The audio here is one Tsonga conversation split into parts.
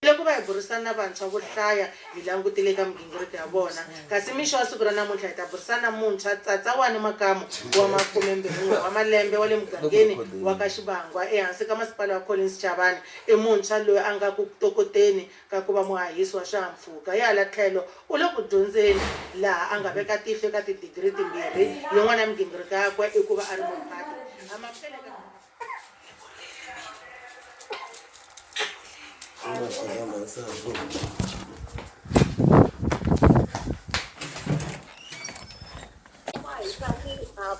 Loko va hi burisana na vantshwa vo hlaya, hi langutile eka migingiriko ya vona. Kasi mixo wa siku ra namuntlha hi ta burisana na muntshwa Tsatsawani Makamu wa makumembirhin'we wa malembe wa le mugangeni wa ka Xivangwa ehansi ka masipala wa Collins Chavani. I muntshwa loyi a nga ku tokoteni ka ku va muhahisi wa swihahampfhuka. Hi hala tlhelo, u le ku dyondzeni laha a nga veka tihlo eka tidigiri timbirhi. Yin'wana ya migingiriko yakwe i ku va a ri muphati. Amukele eka.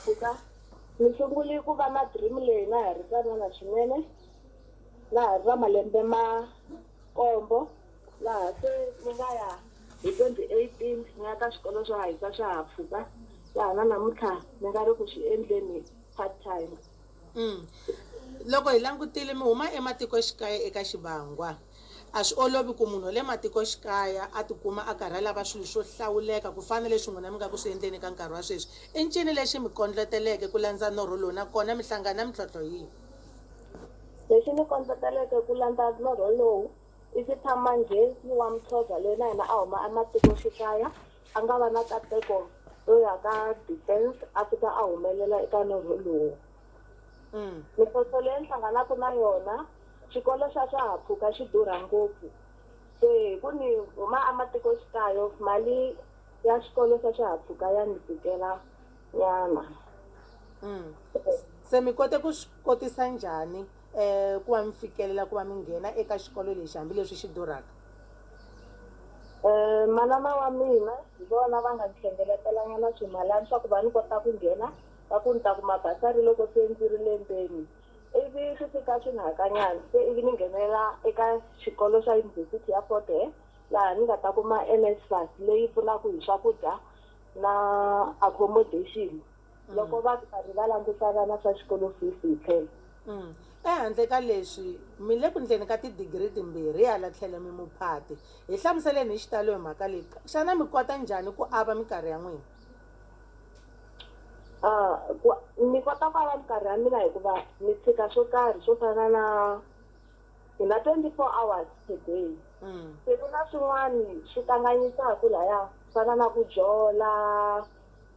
mpfhuka ni sungule ku va na dream leyi na ha ri tsanana swinene na ha ri va malembe ma kombo laha se ni nga ya hi twenty eighteen ni ya ka swikolo swo hahisa swihahampfhuka laha na namuntlha ni nga ri ku swi endleni part time Loko hi langutile mi huma ematikoxikaya eka Xivangwa, a swi olovi ku munhu wa le matikoxikaya a tikuma a karhi a lava swilo swo hlawuleka ku fana na leswi n'wina mi nga ku swi endleni eka nkarhi wa sweswi. I ncini lexi mi kondloteleke ku landza norho lowu nakona mi hlangane na mintlhontlho yihi? Lexi ni kondloteleke ku landza norho lowu i ku tshama njhe ni Wamthodla loyi na yena a huma ematikoxikaya A nga va na kateko yo ya ka defense a fika a humelela eka norho lowu. Mintlhontlho leyi ni hlanganaka na yona, xikolo xa swaha-mpfhuka xi durha ngopfu. Se hi ku ni huma ematikoxikayo mali ya xikolo xa swaha-mpfhuka ya ni tikela nyana. Se mi kote ku swi kotisa njhani ku va mi fikelela ku va mi nghena eka xikolo lexi hambileswi xi durhaka? Manana wa mina hi vona va nga ni hlengelatelanyana swimalani swa ku va ni kota ku nghena, va ku ni ta kuma basari loko se ndzi ri lembeni. Ivi swi fika swi ni hakanyana se ivi ni nghenela eka xikolo xa Yunivhesiti ya Fort Hare laha ni nga ta kuma NSFAS leyi pfunaka hi swakudya na accommodation. loko vanhu va ri va languta vana swa xikolo fees hi tlhelo. Ehandle ka leswi, mi le ku ndleni ka tidigiri timbirhi hi hala tlhelo mi muphati. Hi hlamuseleni hi xitalo hi mhaka leyi. Xana mi kota njhani ku ava mikarhi ya n'wina? Ku, Ni kota ku ava mikarhi ya mina hikuva ni tshika swo karhi swo fana na, hi na 24 hours per day. Se ku na swin'wana swi kanganyisaka lahaya swo fana na ku jola,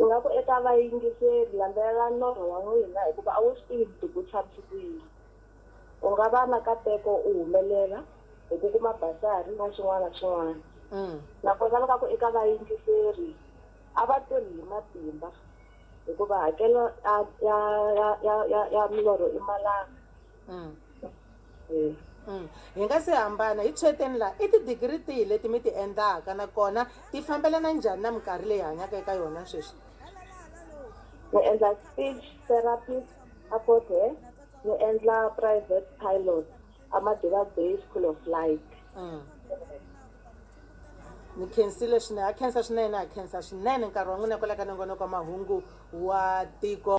Ingaku eka vayingiseri, landzelela norho wa n'wina hikuva a wu swi tivi vutivi byi tshamisi ku yini. U nga va na kateko u humelela hi ku kuma basari na swin'wana na swin'wana. Nakona ingaku eka vayingiseri, a va tirhi hi matimba hikuva hakelo ya milorho i malanga. Mm. Eh. Mm. Hi nga si hambana hi tshweteni laha i tidigiri tihi leti mi ti endlaka nakona ti fambelana njhani na minkarhi leyi hanyaka eka yona sweswi ni endla speech therapy a fort hare ni endla private pilot amadiba bay school of light mm. ni khensile swinene ha khensa swinene ha khensa swinene nkarhi wa n'wina kwala ka nongonoko wa mahungu wa tiko